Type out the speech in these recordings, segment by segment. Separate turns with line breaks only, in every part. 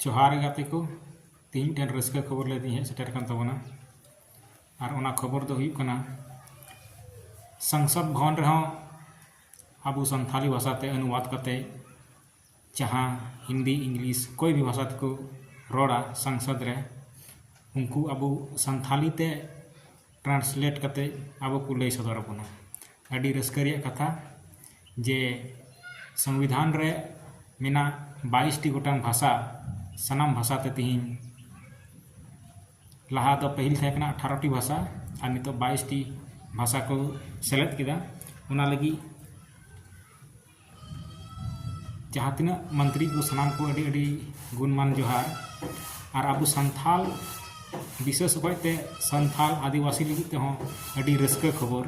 ᱡᱚᱦᱟᱨ ᱜᱟᱛᱮ ᱠᱚ ᱛᱮᱦᱮᱧ ᱢᱤᱫᱴᱮᱱ ᱨᱟᱹᱥᱠᱟᱹ ᱠᱷᱚᱵᱚᱨ ᱞᱟᱹᱭ ᱛᱮᱧ ᱦᱮᱡ ᱥᱮᱴᱮᱨ ᱟᱠᱟᱱ ᱛᱟᱵᱚᱱᱟ ᱟᱨ ᱚᱱᱟ ᱠᱷᱚᱵᱚᱨ ᱫᱚ ᱦᱩᱭᱩᱜ ᱠᱟᱱᱟ ᱥᱚᱝᱥᱚᱫ ᱵᱷᱚᱵᱚᱱ ᱨᱮᱦᱚᱸ ᱟᱵᱚ ᱥᱟᱱᱛᱟᱲᱤ ᱵᱷᱟᱥᱟᱛᱮ ᱚᱱᱩᱵᱟᱫ ᱠᱟᱛᱮ ᱡᱟᱦᱟᱸ ᱦᱤᱱᱫᱤ ᱤᱝᱞᱤᱥ ᱚᱠᱚᱭ ᱜᱮ ᱵᱷᱟᱥᱟ ᱛᱮᱠᱚ ᱨᱚᱲᱟ ᱥᱚᱝᱥᱚᱫᱽ ᱨᱮ ᱩᱱᱠᱩ ᱟᱵᱚ ᱥᱟᱱᱛᱷᱟᱞᱤ ᱛᱮ ᱴᱨᱟᱱᱥᱞᱮᱴ ᱠᱟᱛᱮ ᱟᱵᱚ ᱠᱚ ᱞᱟᱹᱭ ᱥᱚᱫᱚᱨ ᱟᱵᱚᱱᱟ ᱟᱹᱰᱤ ᱨᱟᱹᱥᱠᱟᱹ ᱨᱮᱭᱟᱜ ᱠᱟᱛᱷᱟ ᱡᱮ ᱥᱚᱝᱵᱤᱫᱷᱟᱱ ᱨᱮ ᱢᱮᱱᱟᱜ ᱵᱟᱭᱤᱥᱴᱤ ᱜᱚᱴᱟᱝ ᱵᱷᱟᱥᱟ ᱥᱟᱱᱟᱢ ᱵᱷᱟᱥᱟ ᱛᱮ ᱛᱮᱦᱮᱧ ᱞᱟᱦᱟ ᱫᱚ ᱯᱟᱹᱦᱤᱞ ᱛᱟᱦᱮᱸ ᱠᱟᱱᱟ ᱟᱴᱷᱟᱨᱚᱴᱤ ᱵᱷᱟᱥᱟ ᱟᱨ ᱱᱤᱛᱚᱜ ᱵᱟᱭᱤᱥᱴᱤ ᱵᱷᱟᱥᱟ ᱠᱚ ᱥᱮᱞᱮᱫ ᱠᱮᱫᱟ ᱚᱱᱟ ᱞᱟᱹᱜᱤᱫ ᱡᱟᱦᱟᱸ ᱛᱤᱱᱟᱹᱜ ᱢᱚᱱᱛᱨᱤ ᱠᱚ ᱥᱟᱱᱟᱢ ᱠᱚ ᱟᱹᱰᱤ ᱟᱹᱰᱤ ᱜᱩᱱᱢᱟᱱ ᱡᱚᱦᱟᱨ ᱟᱨ ᱟᱵᱚ ᱥᱟᱱᱛᱟᱲ ᱵᱤᱥᱮᱥ ᱚᱠᱚᱡ ᱛᱮ ᱥᱟᱱᱛᱟᱲ ᱟᱹᱫᱤᱵᱟᱹᱥᱤ ᱞᱟᱹᱜᱤᱫ ᱛᱮᱦᱚᱸ ᱟᱹᱰᱤ ᱨᱟᱹᱥᱠᱟᱹ ᱠᱷᱚᱵᱚᱨ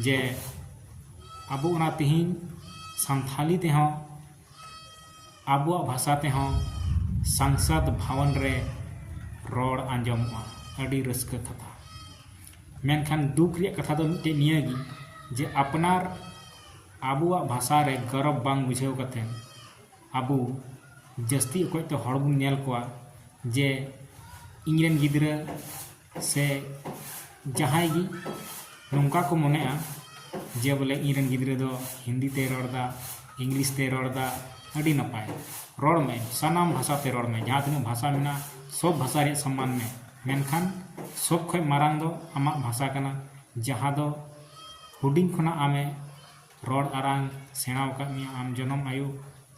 ᱡᱮ ᱟᱵᱚ ᱚᱱᱟ ᱛᱤᱦᱤᱧ ᱥᱟᱱᱛᱟᱲᱤ ᱛᱮᱦᱚᱸ ᱟᱵᱚᱣᱟᱜ ᱵᱷᱟᱥᱟ ᱛᱮᱦᱚᱸ ᱥᱚᱝᱥᱚᱫᱽ ᱵᱷᱚᱵᱚᱱ ᱨᱮ ᱨᱚᱲ ᱟᱸᱡᱚᱢᱚᱜᱼᱟ ᱟᱹᱰᱤ ᱨᱟᱹᱥᱠᱟᱹ ᱠᱟᱛᱷᱟ ᱢᱮᱱᱠᱷᱟᱱ ᱫᱩᱠ ᱨᱮᱭᱟᱜ ᱠᱟᱛᱷᱟ ᱫᱚ ᱢᱤᱫᱴᱮᱱ ᱱᱤᱭᱟᱹ ᱜᱮ ᱡᱮ ᱟᱯᱱᱟᱨ ᱟᱵᱚᱣᱟᱜ ᱵᱷᱟᱥᱟ ᱨᱮ ᱜᱚᱨᱚᱵᱽ ᱵᱟᱝ ᱵᱩᱡᱷᱟᱹᱣ ᱠᱟᱛᱮ ᱟᱵᱚ ᱡᱟᱹᱥᱛᱤ ᱚᱠᱚᱡ ᱛᱮ ᱦᱚᱲ ᱵᱚᱱ ᱧᱮᱞ ᱠᱚᱣᱟ ᱡᱮ ᱤᱧ ᱨᱮᱱ ᱜᱤᱫᱽᱨᱟᱹ ᱥᱮ ᱡᱟᱦᱟᱸᱭ ᱜᱮ ᱱᱚᱝᱠᱟ ᱠᱚ ᱢᱚᱱᱮᱜᱼᱟ ᱡᱮ ᱵᱚᱞᱮ ᱤᱧ ᱨᱮᱱ ᱜᱤᱫᱽᱨᱟᱹ ᱫᱚ ᱦᱤᱱᱫᱤ ᱛᱮᱭ ᱨᱚᱲ ᱮᱫᱟ ᱤᱝᱞᱤᱥ ᱛᱮᱭ ᱨᱚᱲ ᱮᱫᱟ ᱟᱹᱰᱤ ᱱᱟᱯᱟᱭ ᱨᱚᱲ ᱢᱮ ᱥᱟᱱᱟᱢ ᱵᱷᱟᱥᱟ ᱛᱮ ᱨᱚᱲ ᱢᱮ ᱡᱟᱦᱟᱸ ᱛᱤᱱᱟᱹᱜ ᱵᱷᱟᱥᱟ ᱢᱮᱱᱟᱜᱼᱟ ᱥᱚᱵᱽ ᱵᱷᱟᱥᱟ ᱨᱮᱭᱟᱜ ᱥᱚᱱᱢᱟᱱ ᱢᱮ ᱢᱮᱱᱠᱷᱟᱱ ᱥᱚᱵᱽ ᱠᱷᱚᱱ ᱢᱟᱨᱟᱝ ᱫᱚ ᱟᱢᱟᱜ ᱵᱷᱟᱥᱟ ᱠᱟᱱᱟ ᱡᱟᱦᱟᱸ ᱫᱚ ᱦᱩᱰᱤᱧ ᱠᱷᱚᱱᱟᱜ ᱟᱢᱮ ᱨᱚᱲ ᱟᱲᱟᱝ ᱥᱮᱬᱟ ᱟᱠᱟᱫ ᱢᱮᱭᱟ ᱟᱢ ᱡᱚᱱᱚᱢ ᱟᱭᱳ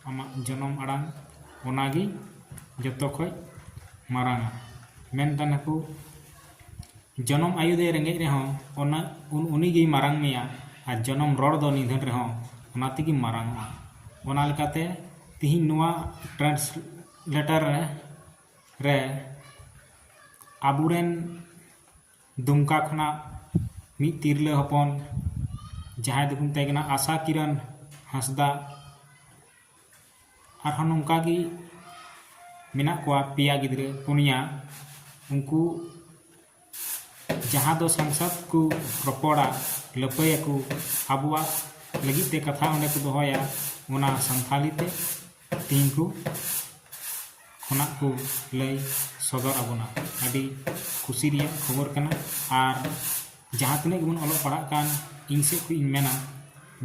ᱟᱢᱟᱜ ᱡᱚᱱᱚᱢ ᱟᱲᱟᱝ ᱚᱱᱟ ᱜᱮ ᱡᱚᱛᱚ ᱠᱷᱚᱱ ᱢᱟᱨᱟᱝᱟ ᱢᱮᱱ ᱛᱟᱦᱮᱱᱟ ᱠᱚ ᱡᱚᱱᱚᱢ ᱟᱭᱳ ᱫᱚᱭ ᱨᱮᱸᱜᱮᱡ ᱨᱮᱦᱚᱸ ᱚᱱᱟ ᱩᱱᱤ ᱜᱮᱭ ᱢᱟᱨᱟᱝ ᱢᱮᱭᱟ ᱟᱨ ᱡᱚᱱᱚᱢ ᱨᱚᱲ ᱫᱚ ᱱᱤᱫᱷᱟᱹᱱ ᱨᱮᱦᱚᱸ ᱚᱱᱟ ᱛᱮᱜᱮᱢ ᱢᱟᱨᱟᱝᱚᱜᱼᱟ ᱚᱱᱟ ᱞᱮᱠᱟᱛᱮ ᱛᱮᱦᱮᱧ ᱱᱚᱣᱟ ᱴᱨᱟᱱᱥᱞᱮᱴᱟᱨ ᱨᱮ ᱨᱮ ᱟᱵᱚ ᱨᱮᱱ ᱫᱩᱢᱠᱟ ᱠᱷᱚᱱᱟᱜ ᱢᱤᱫ ᱛᱤᱨᱞᱟᱹ ᱦᱚᱯᱚᱱ ᱡᱟᱦᱟᱸᱭ ᱫᱚᱠᱚ ᱢᱮᱛᱟᱭ ᱠᱟᱱᱟ ᱟᱥᱟ ᱠᱤᱨᱚᱱ ᱦᱟᱸᱥᱫᱟ ᱟᱨᱦᱚᱸ ᱱᱚᱝᱠᱟ ᱜᱮ ᱢᱮᱱᱟᱜ ᱠᱚᱣᱟ ᱯᱮᱭᱟ ᱜᱤᱫᱽᱨᱟᱹ ᱯᱩᱱᱭᱟ ᱩᱱᱠᱩ ᱡᱟᱦᱟᱸ ᱫᱚ ᱥᱚᱝᱥᱚᱫᱽ ᱠᱚ ᱨᱚᱯᱚᱲᱟ ᱞᱟᱹᱯᱟᱹᱭᱟᱠᱚ ᱟᱵᱚᱣᱟᱜ ᱞᱟᱹᱜᱤᱫ ᱛᱮ ᱠᱟᱛᱷᱟ ᱚᱸᱰᱮ ᱠᱚ ᱫᱚᱦᱚᱭᱟ ᱚᱱᱟ ᱥᱟᱱᱛᱷᱟᱞᱤ ᱛᱮ ᱛᱤᱧ ᱠᱚ ᱠᱷᱚᱱᱟᱜ ᱠᱚ ᱞᱟᱹᱭ ᱥᱚᱫᱚᱨ ᱟᱵᱚᱱᱟ ᱟᱹᱰᱤ ᱠᱩᱥᱤ ᱨᱮᱭᱟᱜ ᱠᱷᱚᱵᱚᱨ ᱠᱟᱱᱟ ᱟᱨ ᱡᱟᱦᱟᱸ ᱛᱤᱱᱟᱹᱜ ᱜᱮᱵᱚᱱ ᱚᱞᱚᱜ ᱯᱟᱲᱦᱟᱜ ᱠᱟᱱ ᱤᱧ ᱥᱮᱫ ᱠᱷᱚᱱ ᱤᱧ ᱢᱮᱱᱟ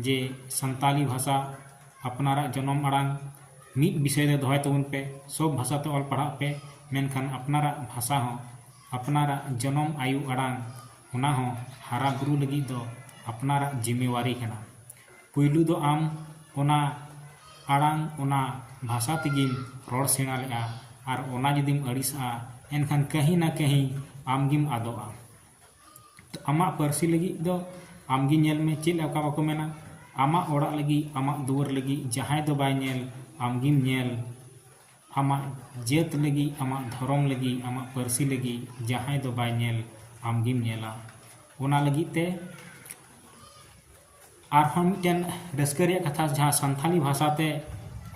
ᱡᱮ ᱥᱟᱱᱛᱟᱲᱤ ᱵᱷᱟᱥᱟ ᱟᱯᱱᱟᱨᱟᱜ ᱡᱚᱱᱚᱢ ᱟᱲᱟᱝ ᱢᱤᱫ ᱵᱤᱥᱚᱭ ᱨᱮ ᱫᱚᱦᱚᱭ ᱛᱟᱵᱚᱱ ᱯᱮ ᱥᱚᱵᱽ ᱵᱷᱟᱥᱟ ᱛᱮ ᱚᱞ ᱯᱟᱲᱦᱟᱜ ᱯᱮ ᱢᱮᱱᱠᱷᱟᱱ ᱟᱯᱱᱟᱨᱟᱜ ᱵᱷᱟᱥᱟ ᱦᱚᱸ ᱟᱯᱱᱟᱨᱟᱜ ᱡᱚᱱᱚᱢ ᱟᱭᱳ ᱟᱲᱟᱝ ᱚᱱᱟ ᱦᱚᱸ ᱦᱟᱨᱟ ᱵᱩᱨᱩ ᱞᱟᱹᱜᱤᱫ ᱫᱚ ᱟᱯᱱᱟᱨᱟᱜ ᱡᱤᱢᱮᱣᱟᱨᱤ ᱠᱟᱱᱟ ᱯᱩᱭᱞᱩ ᱫᱚ ᱟᱢ ᱚᱱᱟ ᱟᱲᱟᱝ ᱚᱱᱟ ᱵᱷᱟᱥᱟ ᱛᱮᱜᱮᱢ ᱨᱚᱲ ᱥᱮᱬᱟ ᱞᱮᱫᱼᱟ ᱟᱨ ᱚᱱᱟ ᱡᱩᱫᱤᱢ ᱟᱹᱲᱤᱥᱟᱜᱼᱟ ᱮᱱᱠᱷᱟᱱ ᱠᱟᱹᱦᱤ ᱱᱟ ᱠᱟᱹᱦᱤ ᱟᱢ ᱜᱮᱢ ᱟᱫᱚᱜᱼᱟ ᱛᱚ ᱟᱢᱟᱜ ᱯᱟᱹᱨᱥᱤ ᱞᱟᱹᱜᱤᱫ ᱫᱚ ᱟᱢ ᱜᱮ ᱧᱮᱞ ᱢᱮ ᱪᱮᱫ ᱞᱮᱠᱟ ᱵᱟᱠᱚ ᱢᱮᱱᱟ ᱟᱢᱟᱜ ᱚᱲᱟᱜ ᱞᱟᱹᱜᱤᱫ ᱟᱢᱟᱜ ᱫᱩᱣᱟᱹᱨ ᱞᱟᱹᱜᱤᱫ ᱡᱟᱦᱟᱸᱭ ᱫᱚ ᱵᱟᱭ ᱧᱮᱞ ᱟᱢ ᱜᱮᱢ ᱧᱮᱞ ᱟᱢᱟᱜ ᱡᱟᱹᱛ ᱞᱟᱹᱜᱤᱫ ᱟᱢᱟᱜ ᱫᱷᱚᱨᱚᱢ ᱞᱟᱹᱜᱤᱫ ᱟᱢᱟᱜ ᱯᱟᱹᱨᱥᱤ ᱞᱟᱹᱜᱤᱫ ᱡᱟᱦᱟᱸᱭ ᱫᱚ ᱵᱟᱭ ᱧᱮᱞ ᱟᱢ ᱜᱮᱢ ᱧᱮᱞᱟ ᱚᱱᱟ ᱞᱟᱹᱜᱤᱫ ᱛᱮ ᱟᱨᱦᱚᱸ ᱢᱤᱫᱴᱮᱱ ᱨᱟᱹᱥᱠᱟᱹ ᱨᱮᱭᱟᱜ ᱠᱟᱛᱷᱟ ᱡᱟᱦᱟᱸ ᱥᱟᱱᱛᱟᱲᱤ ᱵᱷᱟᱥᱟ ᱛᱮ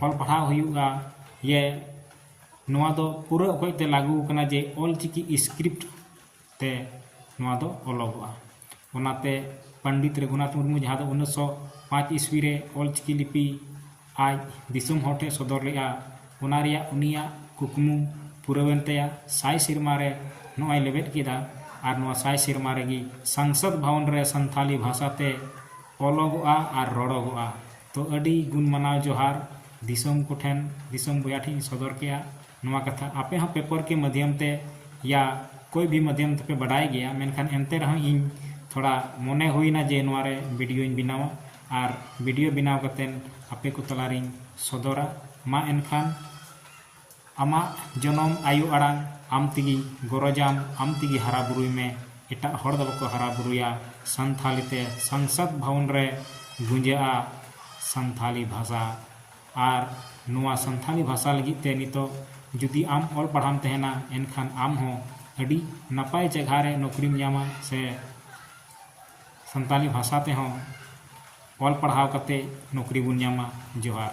ᱚᱞ ᱯᱟᱲᱦᱟᱣ ᱦᱩᱭᱩᱜᱼᱟ ᱡᱮ ᱱᱚᱣᱟ ᱫᱚ ᱯᱩᱨᱟᱹ ᱚᱠᱚᱡ ᱛᱮ ᱞᱟᱹᱜᱩ ᱟᱠᱟᱱᱟ ᱡᱮ ᱚᱞ ᱪᱤᱠᱤ ᱤᱥᱠᱨᱤᱯᱴ ᱛᱮ ᱱᱚᱣᱟ ᱫᱚ ᱚᱞᱚᱜᱚᱜᱼᱟ ᱚᱱᱟᱛᱮ ᱯᱚᱱᱰᱤᱛ ᱨᱚᱜᱷᱩᱱᱟᱛᱷ ᱢᱩᱨᱢᱩ ᱡᱟᱦᱟᱸ ᱫᱚ ᱩᱱᱤᱥᱥᱚ ᱯᱟᱸᱪ ᱤᱥᱣᱤ ᱨᱮ ᱚᱞ ᱪᱤᱠᱤ ᱞᱤᱯᱤ ᱟᱡ ᱫᱤᱥᱚᱢ ᱦᱚᱲ ᱴᱷᱮᱱ ᱥᱚᱫᱚᱨ ᱞᱮᱫᱼᱟ ᱚᱱᱟ ᱨᱮᱭᱟᱜ ᱩᱱᱤᱭᱟᱜ ᱠᱩᱠᱢᱩ ᱯᱩᱨᱟᱹᱣᱮᱱ ᱛᱟᱭᱟ ᱥᱟᱭ ᱥᱮᱨᱢᱟ ᱨᱮ ᱱᱚᱜᱼᱚᱭ ᱞᱮᱵᱮᱫ ᱠᱮᱫᱟ ᱟᱨ ᱱᱚᱣᱟ ᱥᱟᱭ ᱥᱮᱨᱢᱟ ᱨᱮᱜᱮ ᱥᱟᱝᱥᱚᱫᱽ ᱵᱷᱚᱵᱚᱱ ᱨᱮ ᱥᱟᱱᱛᱟᱲᱤ ᱵᱷᱟᱥᱟ ᱛᱮ ᱚᱞᱚᱜᱚᱜᱼᱟ ᱟᱨ ᱨᱚᱲᱚᱜᱚᱜᱼᱟ ᱛᱚ ᱟᱹᱰᱤ ᱜᱩᱱ ᱢᱟᱱᱟᱣ ᱡᱚᱦᱟᱨ ᱫᱤᱥᱚᱢ ᱠᱚᱴᱷᱮᱱ ᱫᱤᱥᱚᱢ ᱵᱚᱭᱦᱟ ᱴᱷᱮᱱ ᱤᱧ ᱥᱚᱫᱚᱨ ᱠᱮᱫᱼᱟ ᱱᱚᱣᱟ ᱠᱟᱛᱷᱟ ᱟᱯᱮ ᱦᱚᱸ ᱯᱮᱯᱟᱨ ᱠᱮ ᱢᱟᱫᱷᱭᱚᱢ ᱛᱮ ᱭᱟ ᱠᱳᱭ ᱵᱷᱤ ᱢᱟᱫᱷᱭᱚᱢ ᱛᱮᱯᱮ ᱵᱟᱰᱟᱭ ᱜᱮᱭᱟ ᱢᱮᱱᱠᱷᱟᱱ ᱮᱱᱛᱮ ᱨᱮᱦᱚᱸ ᱤᱧ ᱛᱷᱚᱲᱟ ᱢᱚᱱᱮ ᱦᱩᱭᱮᱱᱟ ᱡᱮ ᱱᱚᱣᱟ ᱨᱮ ᱵᱷᱤᱰᱤᱭᱳᱧ ᱵᱮᱱᱟᱣᱟ ᱟᱨ ᱵᱤᱰᱤᱭᱳ ᱵᱮᱱᱟᱣ ᱠᱟᱛᱮ ᱟᱯᱮ ᱠᱚ ᱛᱟᱞᱟ ᱨᱤᱧ ᱥᱚᱫᱚᱨᱟ ᱢᱟ ᱮᱱᱠᱷᱟᱱ ᱟᱢᱟᱜ ᱡᱚᱱᱚᱢ ᱟᱭᱳ ᱟᱲᱟᱝ ᱟᱢ ᱛᱮᱜᱮ ᱜᱚᱨᱚᱡᱟᱢ ᱟᱢ ᱛᱮᱜᱮ ᱦᱟᱨᱟ ᱵᱩᱨᱩᱭ ᱢᱮ ᱮᱴᱟᱜ ᱦᱚᱲ ᱫᱚ ᱵᱟᱠᱚ ᱦᱟᱨᱟ ᱵᱩᱨᱩᱭᱟ ᱥᱟᱱᱛᱷᱟᱞᱤ ᱛᱮ ᱥᱚᱝᱥᱚᱫᱽ ᱵᱷᱚᱵᱚᱱ ᱨᱮ ᱜᱩᱸᱡᱟᱹᱜᱼᱟ ᱥᱟᱱᱛᱷᱟᱞᱤ ᱵᱷᱟᱥᱟ ᱟᱨ ᱱᱚᱣᱟ ᱥᱟᱱᱛᱷᱟᱞᱤ ᱵᱷᱟᱥᱟ ᱞᱟᱹᱜᱤᱫ ᱛᱮ ᱱᱤᱛᱚᱜ ᱡᱩᱫᱤ ᱟᱢ ᱚᱞ ᱯᱟᱲᱦᱟᱣᱮᱢ ᱛᱟᱦᱮᱱᱟ ᱮᱱᱠᱷᱟᱱ ᱟᱢ ᱦᱚᱸ ᱟᱹᱰᱤ ᱱᱟᱯᱟᱭ ᱡᱟᱭᱜᱟ ᱨᱮ ᱱᱚᱠᱨᱤᱢ ᱧᱟᱢᱟ ᱥᱮ ᱥᱟᱱᱛᱟᱞᱤ ᱵᱷᱟᱥᱟ ᱛᱮᱦᱚᱸ ᱚᱞ ᱯᱟᱲᱦᱟᱣ ᱠᱟᱛᱮ ᱱᱚᱠᱨᱤ ᱵᱚᱱ ᱧᱟᱢᱟ ᱡᱚᱦᱟᱨ᱾